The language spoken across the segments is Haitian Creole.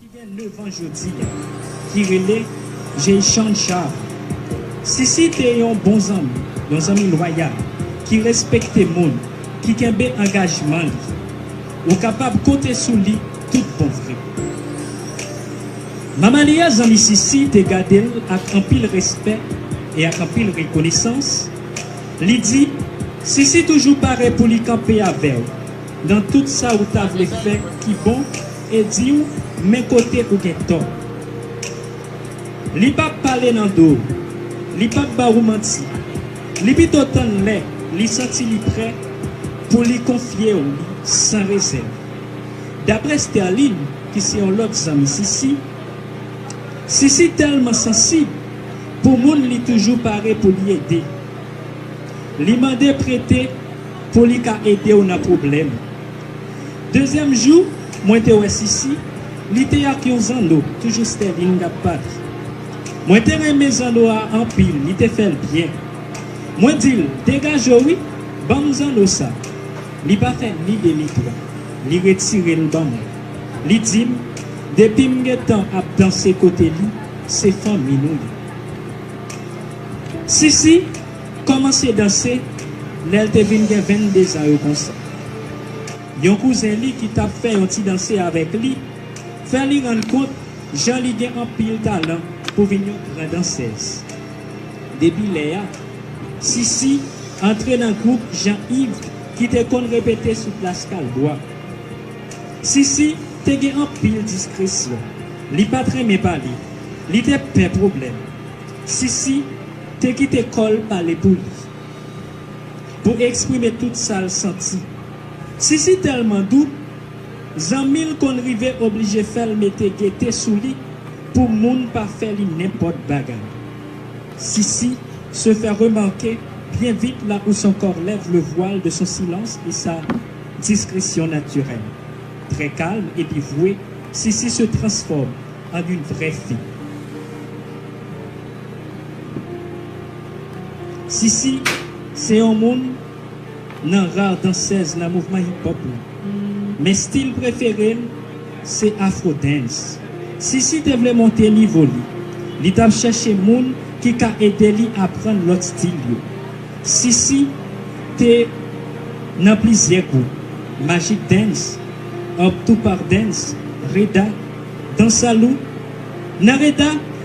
ki gen 9 an jodi a, ki rele Jeychan Charles. Sisi te yon bon zanmi, yon zanmi lwayal, ki respekte moun, ki kenbe angajman li. Ou kapab konte sou li tout bon vre. Mama li a, zanmi Sisi, te gade l ak anpil respè e ak anpil rekonesans, li di, Sisi toujou pare pou li kanpe avè w. Nan tout sa ou ta vle fè ki bon e di ou men kote ou gen tò. Li p ap pale nan do ou, li p ap ba ou manti, li pito tann lè li santi li prè pou li konfye ou li san rezèv. Daprè Sterline ki se yon lòt zanmi Sisi, Sisi tèlman sansib pou moun li toujou pare pou li ede. Li mande prete. Pou li ka ede w nan pwoblèm. Dezyèm jou, mwen te wè Sisi, li te ak yon zanno, toujou Sterling t ap pale. Mwen te renmen zanno a anpil, li te fè l byen. Mwen di l, Degaje w wi, ban m zanno sa. Li pa fè ni de ni twa, li retire l ban mwen. Li di m, Depi m gen tan ap danse kote li, se fanmi nou ye. Sisi. Kòmanse danse lè l te vin gen venndezan yo konsa. Yon kouzen li ki t ap fè yon ti danse avèk li fè li rann kont jan li gen anpil talan pou vin yon gran dansèz. Depi lè a, Sisi antre nan gwoup Jan Iv ki te konn repete sou plas Kalbwa. Sisi te gen anpil diskresyon, li pa t renmen pale, li te pè pwoblèm. Sisi. Te kite kòl pale pou li. Pou eksprime tout sal santi. Sisi tèlman dou, zanmil konn rive oblije fèl mete gete sou li pou moun pa fè li nenpòt bagay. Sisi se fè remake byen vit la où son corps lève le voile de son silence et sa discrétion naturelle. Trè kalm epi vwe, Sisi se transfòme an yn vrè fi. Sisi se yon moun nan rar dansèz nan mouvman hip hop la. Men stil prefere l se afro dance. Sisi te vle monte nivo li. Li t ap chèche moun ki ka ede li aprann lòt stil yo. Sisi te nan plizyè gwoup, Magic Dance, Up Tupac Dance, Reda, Dansalou. Nan Reda,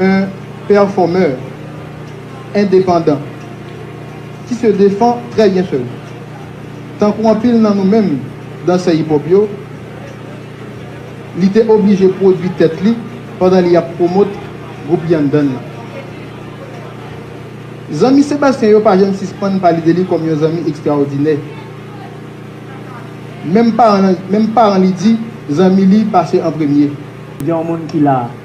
Un performer endepandan ki se defan trè byen sèl. Tankou anpil nan nou menm dansè hip hop yo, li te oblije pwodwi tèt li pandan li ap pwomote gwoup Yandan lan. Zanmi Sebastien yo pa janm sispann pale de li kòm yon zanmi ekstraòdinè. Menm paran li di zanmi li pase an premye. Gen yon moun ki la.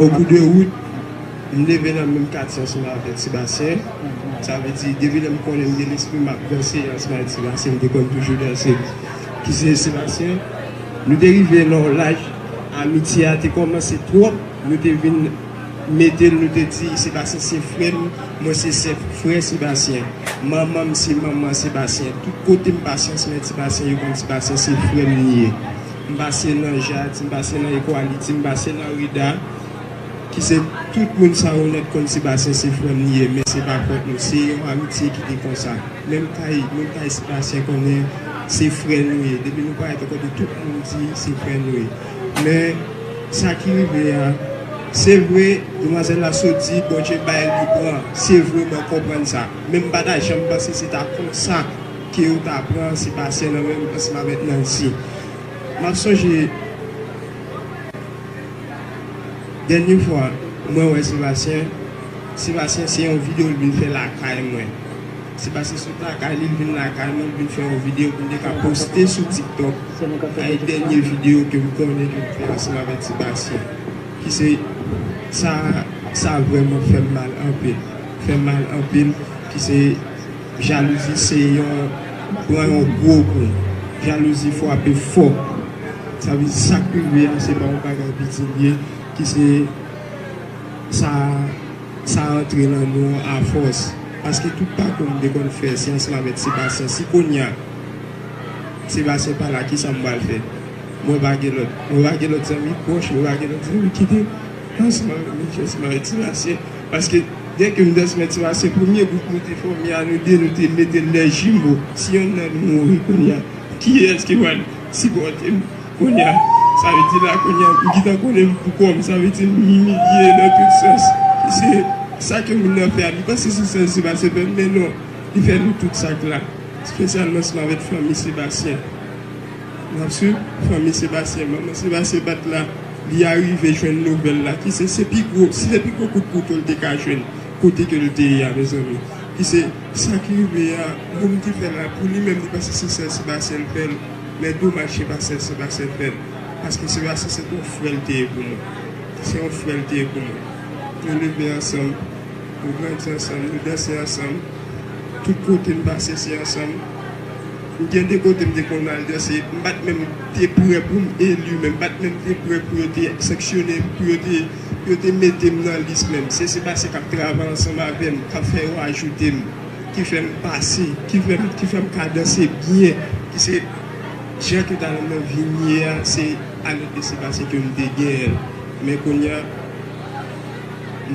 O kou de wout, m leve nan menm katye ansanm avèk Sebastien. Sa vle di, depi lè m konnen m gen lespri m ap danse ansanm avèk Sebastien, m te konn toujou danse. Ki se Sebastien. Nou te rive nan yon laj, amitye a te kòmanse twòp, nou te vin mete l, nou te di, Sebastien se frè m, mwen se sè frè Sebastien. Manman m se manman Sebastien. Tout kote m pase ansanm avèk Sebastien, yo konn Sebastien se frè m li ye. M pase nan Jacques, m pase nan Equality, m pase nan Rida, ki se tout moun sa yo nèt konn Sébastien se frè m li ye, men se pa fòt nou, se yon amitye ki te konsa. Menm kay, moun kay Sébastien konnen se frè nou ye, depi nou parèt ou konnen tout moun di se frè nou ye. Men, sa ki rive a, se vre, demwazèl la sot di Bondye bay li pran, se vre mwen konprann sa, men m pa ta janm panse se ta konsa. Ke yo ta pran Sebastian nan men m ansanm avèk Nancy. M ap sonje dènye fwa mwen wè Sebastian, Sebastian se yon video l vin fè lakay mwen. Sebastian sot lakay li, l vin lakay mwen, l vin fè yon video pou m te ka poste sou TikTok. Sa e dènye video ke m konnen ke m fè ansanm avèk Sebastian. Ki se sa, sa vrèman fè m mal anpil. Fè m mal anpil ki se. Jalouzi se yon pran yon gwo kou jalouzi fwape fò sa vle di sak rive a se pa yon bagay piti li ye ki se sa sa antre nan nou an a fòs paske tout pa kou m te konn fè syans la mèt Sebastien si kounya Sebastien pa la kisa m pral fè mwen pa gen lòt mwen pa gen lòt zanmi pwòch mwen pa gen lòt zanmi ki te Pansman nan Midwest mwen rete Timashe paske dè ke Midwest mwen Timashe premye gwoup nou te fòme a nou 2 nou te metel lè jimo si yonn nan nou mouri kounya kiyès ki pral sipòtem kounya sa vle di la kounya m gintan konnenm pou kòm sa vle di m imilye nan tout sans se sa ke moun nan fè a li panse se sèl Sebastien fèl men non li fè nou tout sak la spesyalman se m avèk fanmi Sebastien. Napsu fanmi Sebastien manman Sebastien bat la li arive jwenn nouvèl la ki se se pi gwo si se pi gwo kout kouto l te ka jwenn kote ke l te ye a mezanmi ki se sa k rive a moun ki fè l la pou li menm li panse se sèl Sebastien l fè l men domaj se pa sèl Sebastien l fè l paske Sebastien se te yon frè l te ye pou mwen se yon frè l te ye pou mwen nou leve ansanm nou grandi ansanm nou danse ansanm tout kote m pase se ansanm. Ou gen de kote m te konn al danse, m pa t menm te prè pou m eli menm, m pa t menm te prè pou yo te sanksyone m, pou yo te mete m nan lis menm. Se se pase k ap travay ansanm avè m, k ap fè yo ajoute m, ki fè m pase, ki fè m ka danse byen, ki se jan ke talan mwen vin ye a, se a lèt lese pase ke m te genyen l. Men kounye a,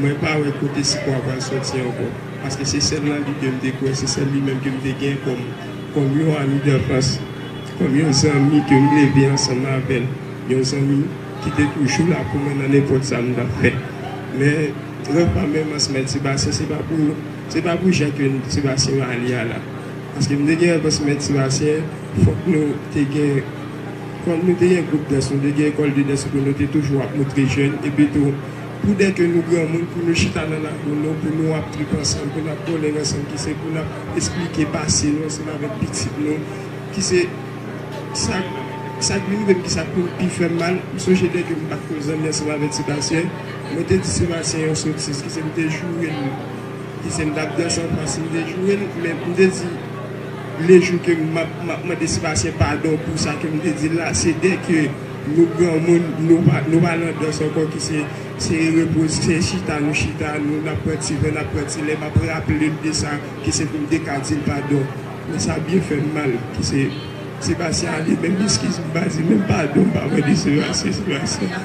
mwen pa wè kote sipò a pral soti ankò. Paske se sèl nan li ke m te kwè, se sèl li menm ke m te gen kòm, kòm yon ami danfans, kòm yon zanmi ke m leve ansanm avè l, yon zanmi ki te toujou la pou mwen nan nenpòt sa m t ap fè. Men, lè pa menm an semèn Sebastien, se pa pou, se pa pou jan ke Sebastien va ale a la. Paske m te gen an semèn Sebastien, fòk nou te gen, kòm nou te gen gwoup dans, nou te gen ecole de danse epi nou te toujou ap moutre jèn, epi tou, Pou dè ke nou granmoun pou nou chita nan lakou nou pou nou ap trip ansanm pou nap bòlèg ansanm ki se pou nap esplike pase nou ansanm avèk pitit nou ki se sak sak vin rivem ki sak vin pi fèm mal m sonje dè ke m pat ko zanmi ansanm avèk Sebastien mwen te di Sebastien yon sotiz ki se m te jourel ki se m tap dans an fas m te jourel men m te di lejou ke map map mande Sebastien padon pou sa ke m te dil la se dè ke Nou granmoun nou pa lan dans ankò ki se se repoze se chita nou chita nou nap pran ti ven nap pran ti lè map raplel de sa ki se poum te ka dil padon men sa byen fèm mal ki se Sebastien ale menm eskiz m pa di menm padon m pa mande Sebastien Sebastien.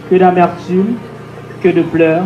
Que d'amertume, que de pleurs.